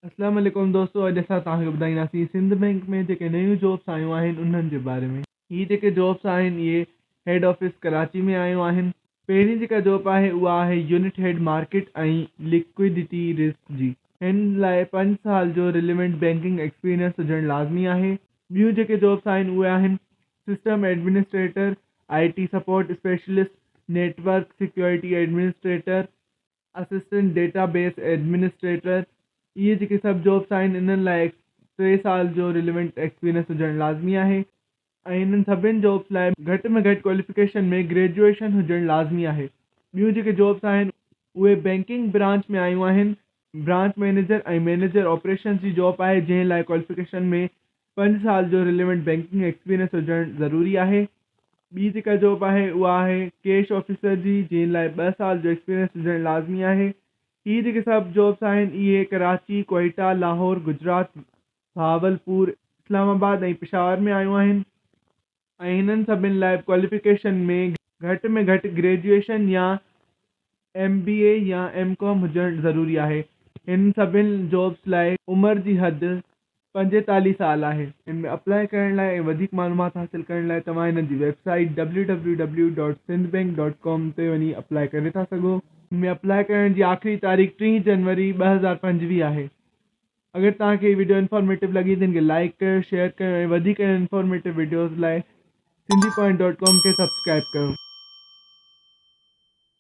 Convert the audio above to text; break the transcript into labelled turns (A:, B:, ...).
A: اسلام عليڪم دوستو اڄ اسان توهان کي ٻڌائينداسين سنڌ بئنڪ ۾ جيڪي نيون جابس آيون آهن انهن جي باري ۾. هي جيڪي جابس آهن اهي هيڊ آفيس ڪراچي ۾ آيون آهن پهرين جيڪا جاب آهي اها آهي unit head market ۽ liquidity risk جي هن لاء پنج سال جو ريليونٽ بئنڪنگ ايڪسپيرينس هجڻ لازمي آهي ٻيون جيڪي جابس آهن اهي آهن system administrator I T support specialist network security administrator assistant database administrator, اهي جيڪي سڀ جابس آهن انهن لاء ٽي سال جو ريليونٽ ايڪسپيرينس هجڻ لازمي آهي ۽ انهن سڀني جابس لاء گهٽ ۾ گهٽ ڪواليفڪيشن ۾ گريجوئيشن هجڻ لازمي آهي. ٻيون جيڪي جابس آهن اهي بئنڪنگ برانچ ۾ آيون آهن، برانچ مئنيجر ۽ مئنيجر آپريشنز جي جاب آهي جنهن لاء ڪواليفڪيشن ۾ پنج سال جو ريليونٽ بينڪنگ ايڪسپيرينس هجڻ ضروري آهي. ٻي جيڪا جاب آهي اها آهي ڪيش آفيسر جي جنهن لاء ٻه سال جو ايڪسپيرينس هجڻ لازمي آهي. هي جيڪي سڀ جابس آهن اهي ڪراچي، ڪوئيٽا، لاهور، گجرات، بهاولپور، اسلام آباد ۽ پشاور ۾ آيون آهن. ۽ هنن سڀن لاء ڪواليفڪيشن ۾ گهٽ ۾ گهٽ گريجوئيشن يا ايم بي اي يا ايم ڪام هجڻ ضروري آهي. هنن سڀن جابس لاء عمر جي حد پنجيتاليهه سال آهي. هن ۾ اپلائي ڪرڻ لاء ۽ وڌيڪ معلومات حاصل ڪرڻ لاء توهان هنن جي website W W W dot Sindh bank dot com تي وڃي اپلائي ڪري ٿا سگهو. هن ۾ اپلائي ڪرڻ جي آخري تاريخ ٽيهه جنوري ٻه هزار پنجويهه آهي. اگر توهان کي هي وڊيو انفارميٽو لڳي ته هن کي لائيڪ ڪيو شيئر ڪيو ۽ وڌيڪ اهڙين انفارميٽو وڊيوز لاء سنڌي پوائنٽ ڊاٽ ڪام کي سبسڪرائيب ڪيو.